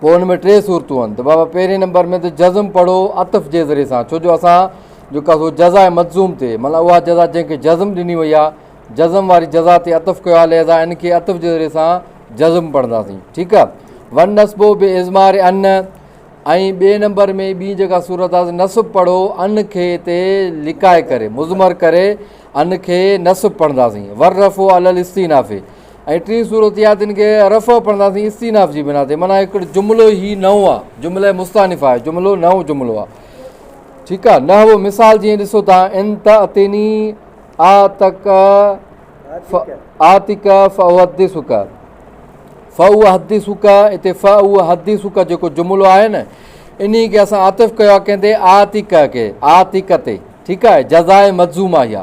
پوء ان ۾ ٽي صورتون آهن ته بابا پهرين نمبر ۾ ته جزم پڙهو عطف جي ذريعي سان ڇو جو اسان جيڪا سو جزا ۽ مجزوم تي مانا اها جزا جنهن کي جزم ڏني وئي آهي جزم واري جزا تي عطف ڪيو آهي لهذا ان کي عطف جي ذريعي سان جزم پڙهنداسين ٺيڪ آهي ون نسبو بي ازمار ان ۽ ٻئي نمبر ۾ ٻي جيڪا صورت آهي نصب پڙهو ان کي تي لکائي ڪري مضمر ڪري ان کي نصب پڙهنداسين ور رفو الستينافي ۽ ٽين صورت اها تن کي رفع پڙهنداسين استيناف جي بنا تي معنيٰ هڪڙو جملو هي نئون آهي جمله مستانف آهي جملو نئون جملو آهي ٺيڪ آهي نه هو مثال جيئن ڏسو تها ان ته اتيني آ تڪ آ تڪ فوحد سڪ فو حد سڪ اتي فو حد سڪ جيڪو جملو آهي نه ان کي اسان عاطف ڪيو آ ڪنهن تي آ تڪ کي آ تڪ تي ٺيڪ آهي جزائي مجزوم آهي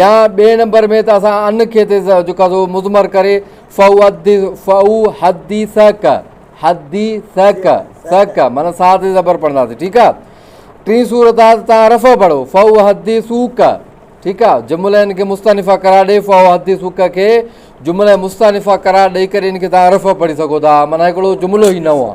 يا ٻئي نمبر ۾ ته اسان ان کي تي جيڪا سو مضمر ڪري فئو حدي سهڪ حدي سهڪ سهڪ مانا سا تي زبر پڙھنداسي ٺيڪ آ ٽين صورت آ ته تان رفع پڙھو فئو حدي سوڪ ٺيڪ آ جمله ان کي مستنفا قرار ڏي فئو حدي سوڪ کي جمله مستنفا قرار ڏئي ڪري ان کي تان رفع پڙھي سگھو ٿا مانا هڪڙو جملو هي نئون آ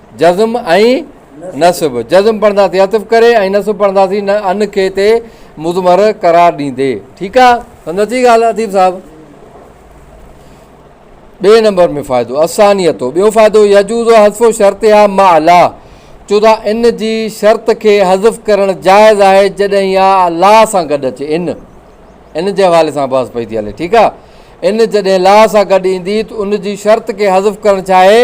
جزم ۽ نصب، جزم پڙهنداسين عطف ڪري ۽ نصب پڙهنداسين نه ان کي تي مضمر قرار ڏيندي. ٺيڪ آ سمجھ اچي ڳالھ اديب صاحب. ٻئي نمبر ۾ فائدو الثانية ٻيو فائدو يجوز حذف شرطها مع لا چو تھا ان جي شرط کي حذف ڪرڻ جائز آھي جڏھن اھا لا سان گڏ اچي ان ان جي حوالي سان بحث پئي ٿي ھلي ٺيڪ آ ان جڏھن لا سان گڏ ايندي ته ان جي شرط کي حذف ڪرڻ ڇا آھي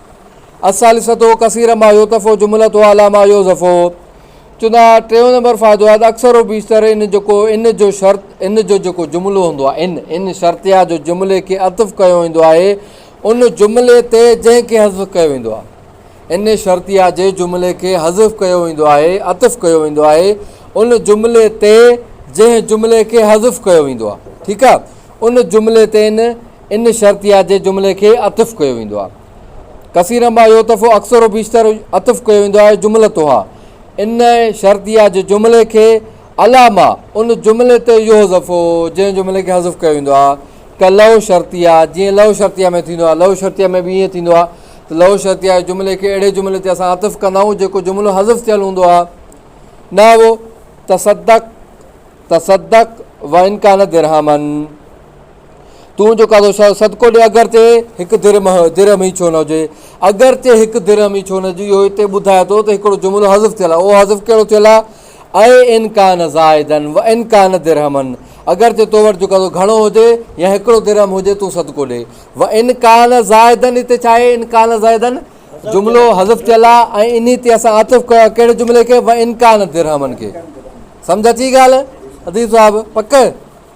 الثالثة کثيرا ما يوتف و جملة ها لا ما يوظف چوندا ها ٽيون نمبر فائدو آهي ته اڪثر و بيشتر ان جيڪو ان جو شرط ان جو جيڪو جملو هوندو آهي ان ان شرطيه جو جملي کي عطف ڪيو ويندو آهي ان جملي تي جنهن کي حذف ڪيو ويندو آهي ان شرطيه جي جملي کي حذف ڪيو ويندو آهي عطف ڪيو ويندو آهي ان جملي تي جنهن جملي کي حذف ڪيو ويندو آهي ٺيڪ آهي ان جملي تي ان ان شرطيه جي جملي کي عطف ڪيو ويندو آهي. ڪثيرا ما يعطف اڪثر و بيشتر عطف ڪيو ويندو آهي جملتها ان شرطيه جي جملي کي علی ما ان جملي تي يحذف جنهن جملي کي حذف ڪيو ويندو آهي ڪه لو شرطيه جيئن لو شرطيه ۾ ٿيندو آهي لو شرطيه ۾ به ائين ٿيندو آهي ته لو شرطيه جي جملي کي اهڙي جملي تي اسان عطف ڪندا آهيون جيڪو جملو حذف ٿيل هوندو آهي نحو تصدق تصدق وان ڪان درهمن تون جو ڪاٿو شاهه صدقو ڏي اگر تي هڪ درهم درهم ئي ڇو نه هجي اگر تي هڪ درهم ئي ڇو نه هجي اهو هتي ٻڌايو ٿو ته هڪڙو جملو حذف ٿيل آهي اهو حذف ڪهڙو ٿيل آهي اي ان ڪان زائدا و ان ڪان درهما اگر تي تو وٽ جو ڪاٿو گهڻو هجي يا هڪڙو درهم هجي تون صدقو ڏي و ان ڪان زائدا هتي ڇا آهي ان ڪان زائدا جملو حذف ٿيل آهي ۽ انهي تي اسان عطف ڪيو آهي ڪهڙي جملي کي و ان ڪان درهمن کي سمجھ اچي ڳالهه اديب صاحب پڪ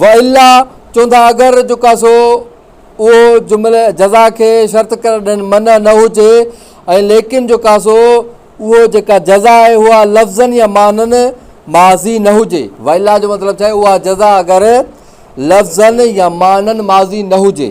والا چون ٿا اگر جو ڪاسو اهو جمله جزا کي شرط قرار ڏيڻ منع نه هجي ۽ ليڪن جو ڪاسو اهو جيڪا جزا آهي اها لفظاً يا معنيٰ ماضي نه هجي والا جو مطلب ڇا آهي اها جزا اگر لفظاً يا معنيٰ ماضي نه هجي